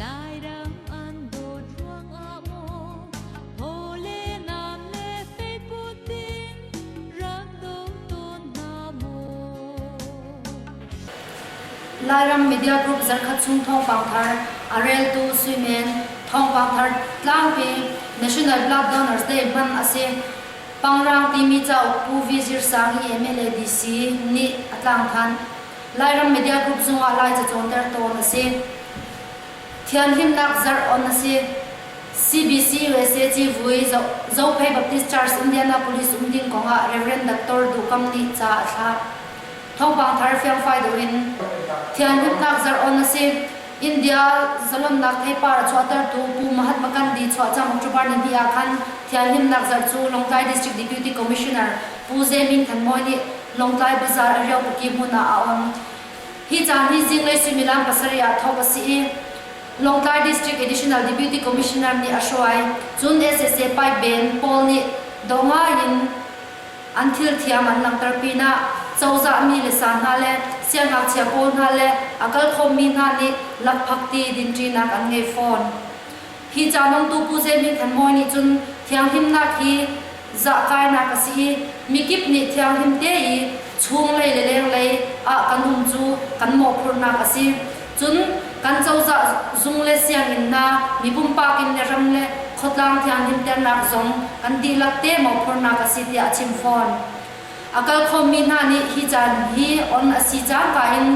Lairam an dawt ruangah maw Hawle nan le feiput in rak do tawn hna maw Lairam Media Group zarkhat chung thawngpang thar a reltu Suimen thawngpang thar tlang peng National Blood Donors Day hman a si. Pangrang timi cauk Pu V. Zir Sang i MLA DC nih a tlang than. Lairam Media Group zungah Lai cacawnter tawn a si. Thianhlimnak zarh on a si. CBC USA civui Zophei Baptist Church Indianapolis um ding kongah Reverend Dr. Dukam nih ca a thlah. Thawngpang thar fiangfai deuh in Thianhlimnak zarh on a si. India zalonnak theipar chuahtertu Pu Mahatma Gandhi chuah cang October ni hnih ah khan thianhlimnak zarh cu Lawngtlai District Deputy Commissioner Pu Ze Min Than Mawi nih Lawngtlai Bazaar Ariakukyi hmun ah a on. Hi caan hi zinglei suimilam pasarih ah thawk a si i, Lawngtlai District Additional Deputy Commissioner nih a hruai. Cun, sac pipe ben pawl nih dawngai in An thilthiam an langhter pinah cozahmi le sa hna le siangngakchia pawl hna le a kal khawmmi hna nih lakphakti dinṭinak an ngei fawn. Hi ca nontu Pu Ze Min Than Mawi nih cun thianghlimnak hi zahtlainak a si i mikip nih thianghlim te i chunglei le lenglei ah kan um cu kan mawhphurhnak a si. Cun kan cozah zung le sianginn hna mibumpak inn le ram le khuatlang thianghlimternak zong kan dihlak te mawhphurnak a si tiah a chim fawn. A kalkhawmmi hna nih hi caan hi on a si cangka in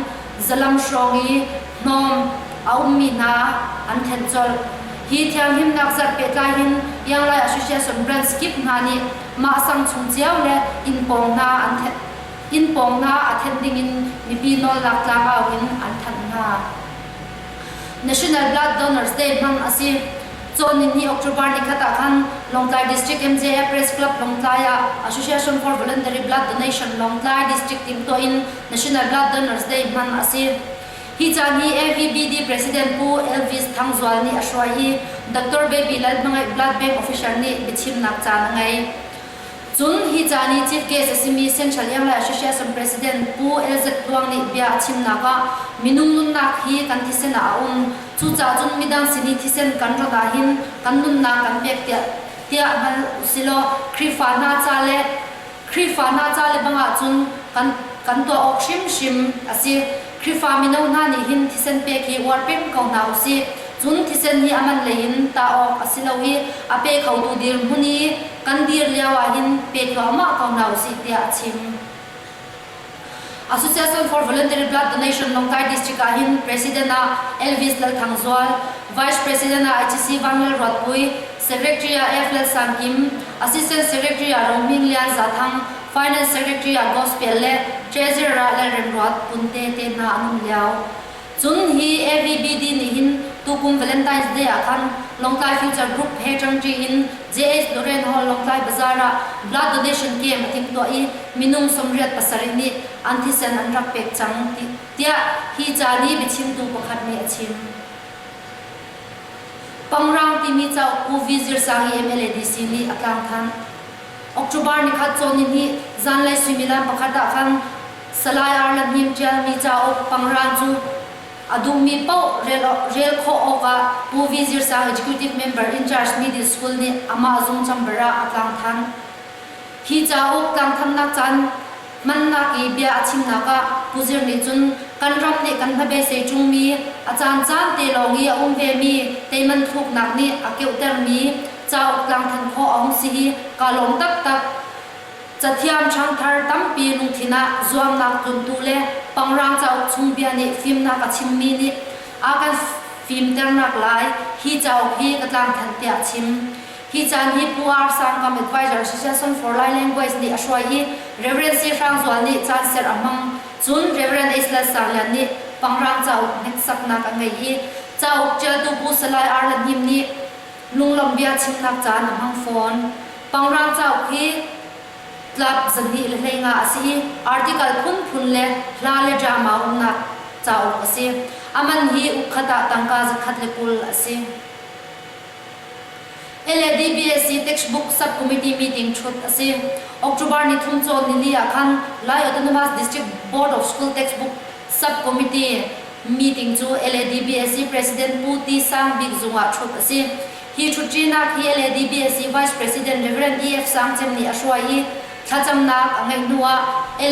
zalam hrawng i hnawm a ummi hna an thenh colh. Hi thianghlimnak zarh pehtlai hin Younglai Association branch kip hna nih mah sang chung cio le inn pawng hna an thenh. inn pawng hna a thenh dingin mipi nawlnak tlangau in an thanh hna. National Blood Donors Day hmang a si. Cawn ni October ni khat ah khan Lawngtlai District MJF Press Club Lawngtlai ah Association for Voluntary Blood Donation Lawngtlai District tingtaw in National Blood Donors Day hman a si. Hi caan hi AVBD President Pu Elvis Thang Zual nih a hruai i Dr. Baby Lalhmangaih Blood Bank official nih biachimnak caan a ngei. Cun hi ca ni Chief Case a simi Central Yanglai Association President Pu LZ Tluang nih bia a chimnak ah Minung nunnak hi kan thisen ah a um. Cucaah cun midang sin i thisen kan rat ahhin kan nunnak kan pek tiah tiah hal usilaw Khrihfa hna ca le Khrihfa hna ca le bang ahcun kan kan tuah awk hrimhrim a si. Khrihfa mino hna nih hin thisen pek hi uar peng ko hna usih. Cun thisen hi a man lei in tah awk a si lo i a pe khotu dirhmun i kan dir lio ah hin pe thluahmah ko hna usih tiah a chim. Association for Voluntary Blood Donation Lawngtai District ah hin President ah Elvis Lal Thang Zual, Vice President ah HC Van Lal Ruatpui, Secretary ah F. Lal Sam Kim, Assistant Secretary ah Ro Hming Lian Za Thang, Finance Secretary ah Gospel le Treasurer le remruat phun tete hna an um lio. Cun hi AVBD nih hin tukum Valentine's Day ah khan Lawngtlai Future Group he ṭangṭi in JH Loren Hall Lawngtlai Bazaar ah blood donation camp a thing tuah i minung sawmriat pasarih nih an thisen an rak pek cang tiah hi ca nih biachimtu pakhat nih a chim. Pangrang timi cauk Pu V. Zir Sangi MLA DC nih a tlangthanh. October ni khat cawn ni ni zanlei suimilam pakhat ah khan salai arlan hnim ṭialmi cauk pangraan cu a duhmi paoh rel, rel khawh awkah Pu Vizir Sang Executive Member in charge Middle School nih amah zung chamber ah a tlang than. Hi cauk tlangthamnak caan mannak i bia a chimnak ah Pu Zir nih cun kan ram nih kan hnabeisei ṭungmi a caan caan te lawng i a um vemi teiman thuknak nih a keuhtermi cauk tlangtlin khawh a hung si i kaa lawm taktak. Cathiam ṭhangthar tampi lungthin ah zuamnak tluntu le Pangrang cauk chung bia nih fimnak a chimmi nih a kan fimternak lai hi cauk hi ka tlangthan tiah chim. Hi caan hi Pu R. Sangkam Advisor Association for Lai Language nih a hruai i Reverend Si Hrang Zual nih caan ser a hmang. Cun Reverend Ace Lal Sang Lian nih Pangrang cauk hneksaknak a ngei i cauk ṭialtu Bu Salai Arla Hnim nih Lunglam bia chimnak caan a hmang fawn. Pangrang cauk hi tlap zarhnih le hleihngah a si i article phunphun le hla le drama umnak cauk a si. A man hi ukhat ah tangka zakhat le kul a si. LADBSC Textbook Subcommittee meeting thut a si. October ni thum cawn nili ah khan Lai Autonomous District Board of School textbook Sub-committee meeting cu LADBSC President Pu Ti Sang Bik Zung ah ṭhup a si. Hi ṭhutṭinak hi LADBSC Vice President Rev. EF. Sang Cem nih a hruai i thlacamnak a ngeih hnu ah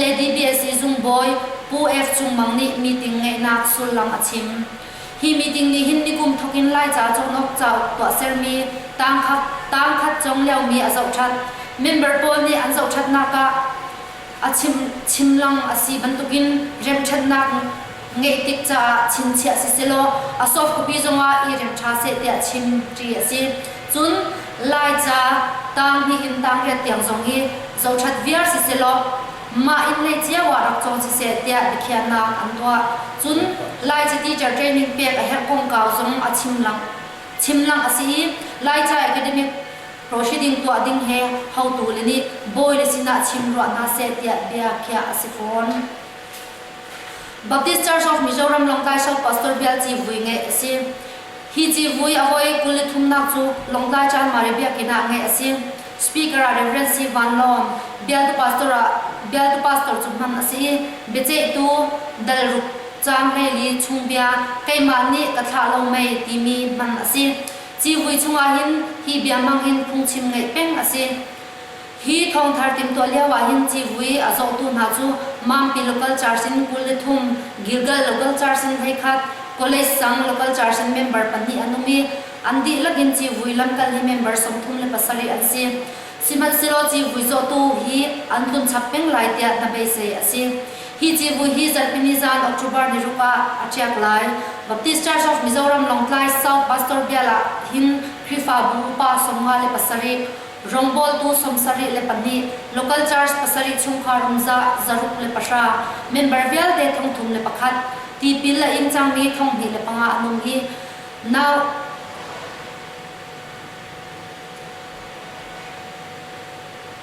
LADBSC Zung bawi Pu Ef Cung Mang nih meeting ngeihnak sullam a chim. Hi meeting nih hin nikum thawk in Laica Cawhnok cauk tuahsermi tangkhat tangkhat cong liomi a zohṭhat. Member pawl nih an zohṭhatnak ah, a chim chim lang a si bantukin remṭhatnak ngeih tik caah chinchiah siselaw a soft copy zongah i remh ṭha seh tiah chim ṭi a si. Cun Laica tang nihin tangriat tiang zong hi zothat viar siselaw mah inn lei cio ah rak cawng siseh tiah biakhiahnak an tuah. Cun Laica teacher training pek a herh kongkau zong a chim lang chim lang a si i Laica Academic Proceeding tuah ding he hotu le nih bawile sinah chim ruah hna seh tiah bia khiah a si fawn. Baptist Church of Mizoram Lawngtlai South Pastor Bial Ci Vui ngeih a si. Hi Ci Vui a hawi kul le thumnak cu Lawngtlai Chanmari Biakinn ah ngeih a si. Speaker ah Reverend C. Van Lawm, bialtu pastor ah bialtu pastor cu hman a si i biaceihtu Dalruk Cang Hlei Li Chung Bia Keimah nih ka thlah lo mei timi hman a si. Civui chungah hin hi bia hmang hin phungchim ngeih peng a si. Hi thawngthar timhtuah lio ah hin civui a zohtu hna cu Mampi Local Church in kul le thum, Gilgal Local Church in voikhat, College Sang Local Church in member pahnih an um i, an dihlak in civui lamkal hi member sawmthum le pasarih an si. Sihmanhsehlaw civui zawtu hi an tlun chap peng lai tiah hnabeisei a si. Hi civui hi Zarhpini zan October ni ruk ah a ṭiak lai. Baptist Church of Mizoram Lawngtlai South Pastor Bial ah hin Khrihfabu upa sawmnga le pasarih, rawngbawltu sawmsarih le pahnih, local church pasarih chungkhar umzah zaruk le pahra, member vialte thong thum le pakhat, tipil a ing cangmi thong hnih le panga an um i nau.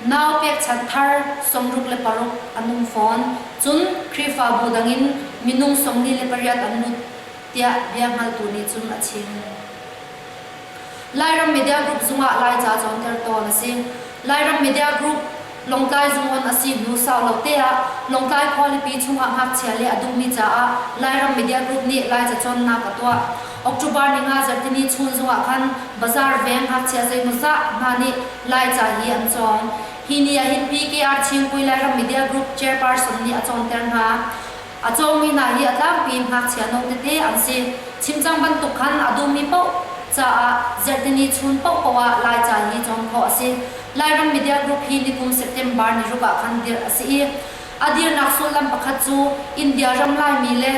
Nau pekchanh thar sawmruk le paruk an um fawn. Cun Khrihfabu dang in minung sawmli le pariat an lut tiah bia hngaltu nih cun a chim. Lairam Media Group zung ah Laica cawnter tawn a si. Lairam Media Group Lawngtlai zungon a si hnu sau lo te ah Lawngtlai khualipi chungah ngakchia le a dummi caah Lairam Media Group nih Lai cacawnnak a tuah. October ni nga zarhtini chunzung ah khan Bazar veng ngakchia zeimawzah hna nih Laica hi an cawng. Hi ni ahhin PKR Chiungpui Lairam Media Group chairperson nih a cawnter hna. A cawmi hna hi a tlangpi ngakchia no tete an si. Chimcang bantuk khan a dummi paoh caah Zertini chun paohpaoh ah Laica hi cawn khawh a si. Lairam media group hi nikum September niruk ah khan dirh a si i, a dirnak sullam pakhat cu India ram Laimi le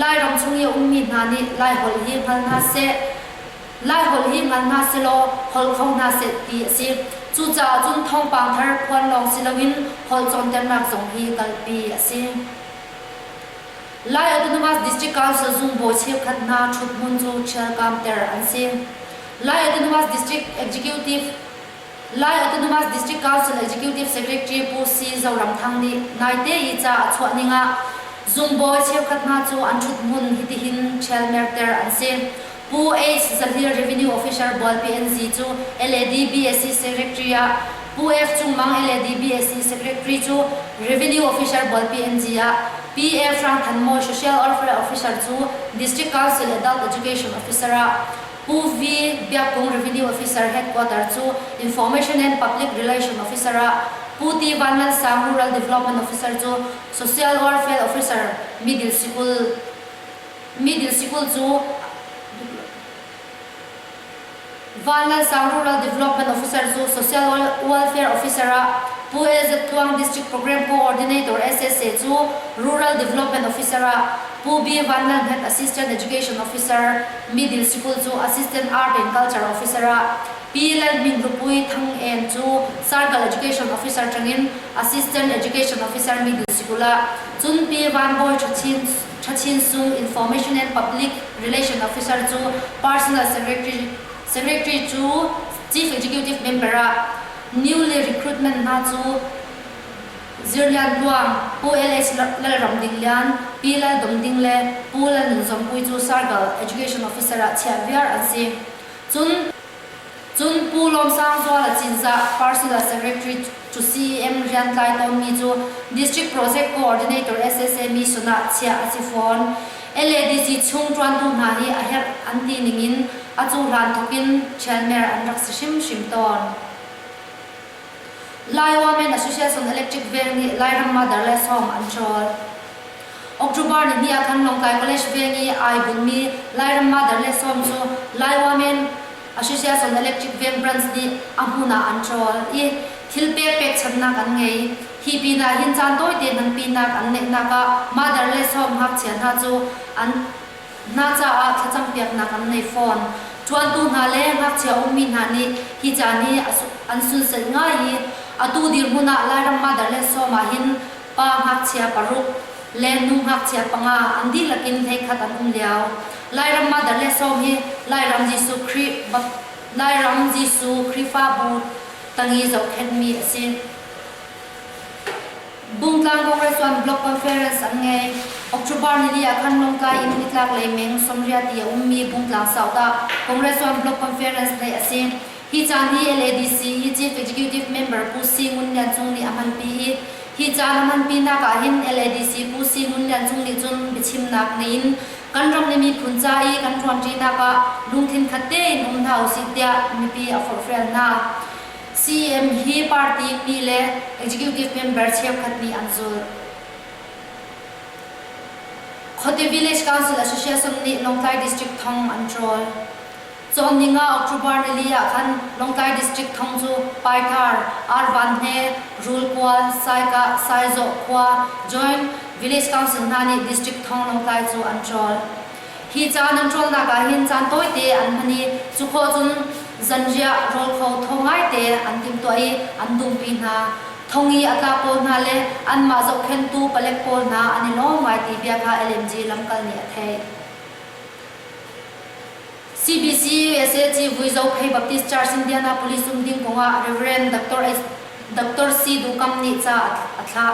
Lairam chung i a ummi hna nih Laiholh hi hngal hna seh, Lai holh hi ngan hna selaw holh kho hna seh ti a si. Cucaah cun thawngpang thar phuan lawng si loin holh cawnternak zong hi kalpi a si. Lai Autonomous District Council zungbawi cheukhat hna ṭhuthmun cu ṭhialkam ter an si. Lai Autonomous District Executive Lai Autonomous District Council Executive Secretary Pu C. Zoramthang nih naite i ca a chuah ning ah zungbawi cheukhat hna cu an ṭhuthmun hitihin ṭhialmerter an si. Pu H. Zahlir Revenue Officer Bual PNZ cu LAD BSC Secretary ah Pu F. Cung Mang LAD BSC Secretary cu Revenue Officer Bual PNZ ah PF. Hrang Than Mawi Social Welfare Officer cu District Council Adult Education Officer ah Pu Vi Biak Kung Revenue Officer Headquarter cu Information and Public Relation Officer ah Pu Ti Van Lal Sang Rural Development Officer cu Social Welfare Officer Middle Sikul Middle Sikul cu Van Lal Sang Rural Development Officer cu Social Welfare Officer ah Pu LZ Tluang District Program Co-ordinator SSA cu Rural Development Officer ah Pu Bee Van Lal Hmet Assistant Education Officer, Middle Sikul cu Assistant Art and Culture Officer ah Pi Lal Hmin Rupui Thang En cu Circle Education Officer ṭangin Assistant Education Officer Middle Sikul ah cun Pi Van Bawi Ṭhachin Sung Information and Public Relation Officer cu Personal Secretary Secretary cu Chief Executive Member ah New le Recruitment hna cu Zirlian Ruang, Pu LH Lalram Din Lian, Pi Lal Dum Ding le Pu Lal Nung Zong Pui cu Sargal Education Officer ah chiah viar an si. Cun Pu Lawm Sang Zuala Cinzah, Parsula Secretary cu CEM Riantlai Tawngmi cu District Project Coordinator SSME Sun ah chiah a si fawn. LADC chung ṭuantu hna hi a herh an ti ning in a cu hlan thawk in ṭhianmer an rak si hrimhrim tawn. Lai Women Association Electric Veng nih Lairam Mother le sawm an ṭawl. October ni ni ah khan Lawngtlai College Veng i ai bunmi Lairam Mother le sawm cu Lai Women Association Electric Veng branch nih a hmun ah an ṭawl i thil pek pekchanhnak an ngei. Hi pinah hin caan tawite hmang pinnak an ngeihnak ah Mother le sawm ngakchia hna cu an hna caah thlacam piaknak an ngei fawn. Ṭuantu hna le ngakchia ummi hna nih hi caan hi an sunsak ngai i atu dirhmun ah Lairam Mother le sawm ahhin pa ngakchia paruk le nu ngakchia panga an dihlak in hleikhat an um lio. Lairam Mother le sawm hi Lairam Jesuh Khrih Lairam Jesuh Khrihfabu tangi zohkhenhmi a si. Bungtlang Congress One Block Conference an ngei. October nili ah khan Lawngtlai in nitlak lei meng sawmriati a ummi Bungtlang South ah Congress One Block Conference theih a si. Hi caan hi LADC i Chief Executive Member Pu Si Ngun Lian Cung nih a hmanpi i hi caan a hmanpinak ahhin LADC Pu Si Ngun Lian Cung nih cun biachimnak ngeiin kan ram le miphun ca i kan ṭuanṭinak ah lungthin khat tein um hna usih tiah mipi a forhfial hna. CM hi party pi le executive member cheukhat nih an zulh. Khote Village Council Association nih Lawngtlai District thong an trawl. Cawn ning ah October nili ah khan Lawngtlai District thong cu Paitar, Arvan he, Rulkual, Saikah, Saizawh khua, joint Village Council hna nih District thong Lawngtlai cu an trawl. Hi ca nan ṭuannak ah hin caan tawite an hman i cu khawh cun zanriah rawl kho thong ngaite an timhtuah i an dumpi hna. Thong i a tla pawl hna le anmah zohkhenhtu palek pawl hna an i lawm ngai ti bia kha LMG lamkal nih a theih. CBC USAG Vui Zo Phei Baptist Church Indianapolis um ding kongah Reverend Dr. Dr. C. Dukam nih ca a thlah.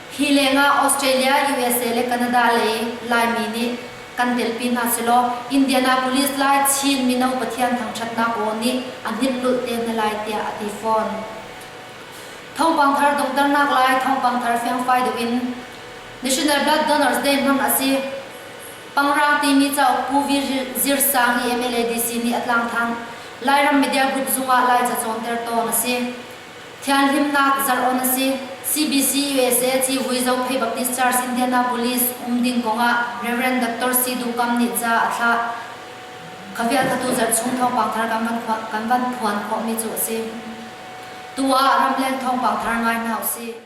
Hi lengah Australia, USA le Canada lei Laimi nih kan telpi hna selaw Indianapolis lai Chin mino Pathian thangthatnak aw nih a hnilhlulh te hna lai tiah a ti fawn. Thawngpang thar donghternak lai thawngpang thar fiangfai deuh in National Blood Donors Day hmang a si. Pangrang timi cauk Pu Vi Zir Sang i MLADC nih a tlangthang Lairam media group zungah lai cacawn ter tawn a si. Thianhlimnak zarh-on a si. CBC-USA civui Zophei Baptist Church Indianapolis um ding kongah Reverend Dr. Sidu Kam nih ca a thlah. Ka vialthatu zarh chung thawngpang thar kan van phuan, kan van phuan khawhmi cu a si. Tu ah ramleng thawngpang thar ngai hna usih.